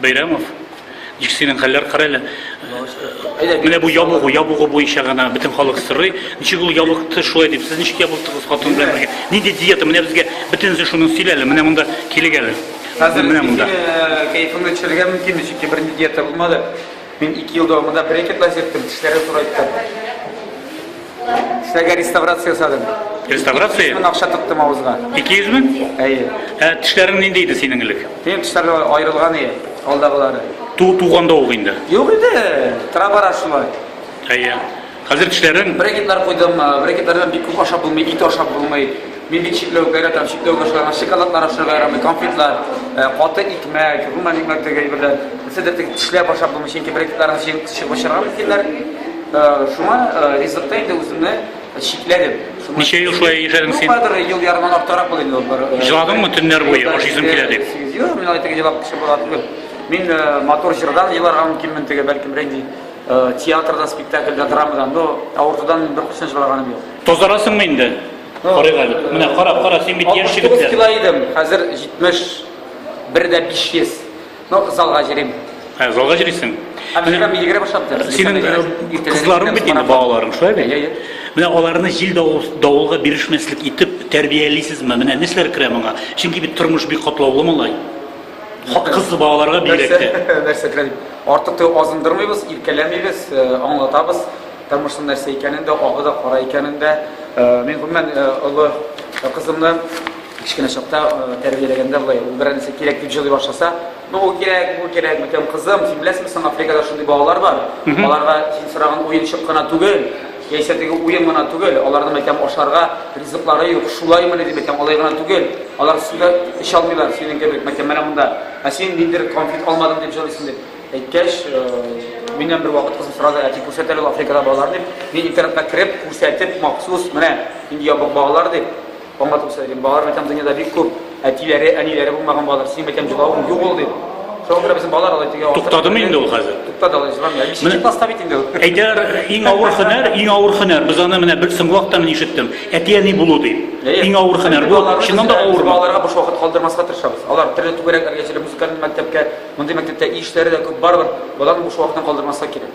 Бәйрәмов, ник синең хәлләр кара әле. Менә бу ябыгу, ябыгу буенча гына бөтен халык сорый. Ничек ул ябыкты шулай дип, сез ничек ябыктыгыз хатын белән бергә? Нинди диета? Менә безгә бөтенесе шуны сөйлә әле, менә монда килегәле. Хәзер менә монда. Кәефеңне төшерергә мөмкин, чөнки бернинди диета булмады. Мин ике ел дәвамында брекет лазерттем, тешләрне турайттым. Тешләргә реставрация ясадым. Реставрация? Мин акча тоттым авызга. 200 мең? Әйе. Ә тешләрең нинди иде синең элек? Минем тешләр аерылган иде, алдагылары. Ту туганда ук инде. Юк иде, тора-бара шулай. Әйе. Хәзер тешләрем. Брекетлар куйдым. Брекетлардан бик күп ашап булмый, ит ашап булмый. Мин бит чикләү гайратам, чикләү башларга, шоколадлар ашарга ярамый, конфетлар, каты икмәк, гомумән икмәк теге әйберләр. Нәрсәдер теге тешләп ашап булмый, чөнки брекетларны чыгып ашарга мөмкиннәр. Шуңа ризыкта инде үземне чикләдем. Ничә ел шулай яшәдең син? Бардыр ел ярымнан артыграк булды инде ул. Җыладыңмы төннәр буе ашыйсым килә дип? Юк, мин алай теге җылап кеше була түгел. Мин матур җырдан еларга мөмкинмен теге, бәлкем, рәнҗи. Театрда, спектакльдә, драмада, но авыртудан мин бер курсен чыгарганым юк. Тазарасыңмы инде? Карыйк әле. Менә кара, кара, син бит яшь егет. 69 кило идем, хәзер 71 дә 500. Но залга җөрим. Хә, залга җөрисең. Әмма мин йөгерә башлады. Синең кызларың бит инде балаларың, шулай бит? Менә аларны җил давылга бирешмәслек итеп тәрбиялисезме? Менә нәрсәләр керә моңа? Чөнки бит тормыш бик катлаулы малай. Хатын-кызсыз балаларга бигрәк тә. Нәрсә, нәрсә генә дип, артык та азындырмыйбыз, иркәләмибез, аңлатабыз, тормышның нәрсә икәнен дә, агы да, кара икәнен дә. Мин гомумән олы кызымны кечкенә чакта тәрбияләгәндә болай, ул берәр нәрсә кирәк дип җылый башласа, ну ул кирәк, бу кирәк, бүтән кызым, син беләсеңме соң, Африкада шундый балалар бар, аларга син сораган уенчык кына түгел, Яисә теге уен гына түгел, аларның әйтәм ашарга ризыклары юк, шулаймыни дип әйтәм, алай гына түгел, алар су да эчә алмыйлар, синең кебек, әйтәм, менә монда, ә син ниндидер конфет алмадың дип җылыйсың, дип әйткәч, миннән бервакыт кызым сорады, әти, күрсәт әле ул Африкада балалар, дип, мин интернетка кереп, күрсәтеп, махсус, менә нинди ябык балалар, дип, Аңлатып сөйләдем, балалар мәктәбе дөньяда бик күп, әтиләре, әниләре булмаган балалар, синең мәктәбең җылавың юк ул дип. Шуңа күрә безнең балалар алай тегә. Туктадымы инде ул хәзер? Туктады алай җыламый. Бишенче класста бит инде. Әйтәләр, иң авыр хөнәр, иң авыр хөнәр. Без аны менә бер соңгы вакытта мин ишеттем. Әти-әни булу дип. Иң авыр хөнәр. Бу чыннан да авыр. Балаларга буш вакыт калдырмаска тырышабыз. Алар төрле түгәрәкләргә җәлеп музыкаль мәктәпкә, мондый мәктәптә ишләре дә күп барыбер. Балаларны буш вакытын калдырмаска кирәк.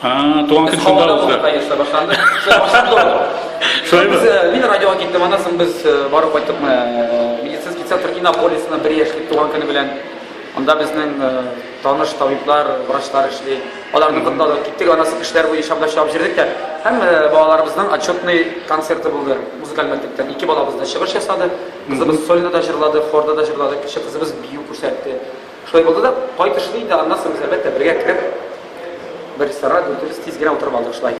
Туган көн шунда узды. Конечно, башланды. Башланды. Шулаймы? Мин радиога киттем, аннан соң без барып кайттык медицинский центр Иннополисына бер яшьлек туган көне белән. Анда безнең таныш табиблар, врачлар эшли. Аларны кытладык. Киттек, аннан соң эшләр буенча да чыгып җирдек тә. Һәм балаларыбызның отчетный концерты булды. Музыкаль мәктәптән ике балабыз да чыгыш ясады. Кызыбыз сольно да җырлады, хорда да җырлады. Кече кызыбыз бию күрсәтте. Шулай булды да, кайтышлый инде аннан соң без әлбәттә бергә кереп, бер ресторанга дүртебез тиз генә утырып алдык шулай.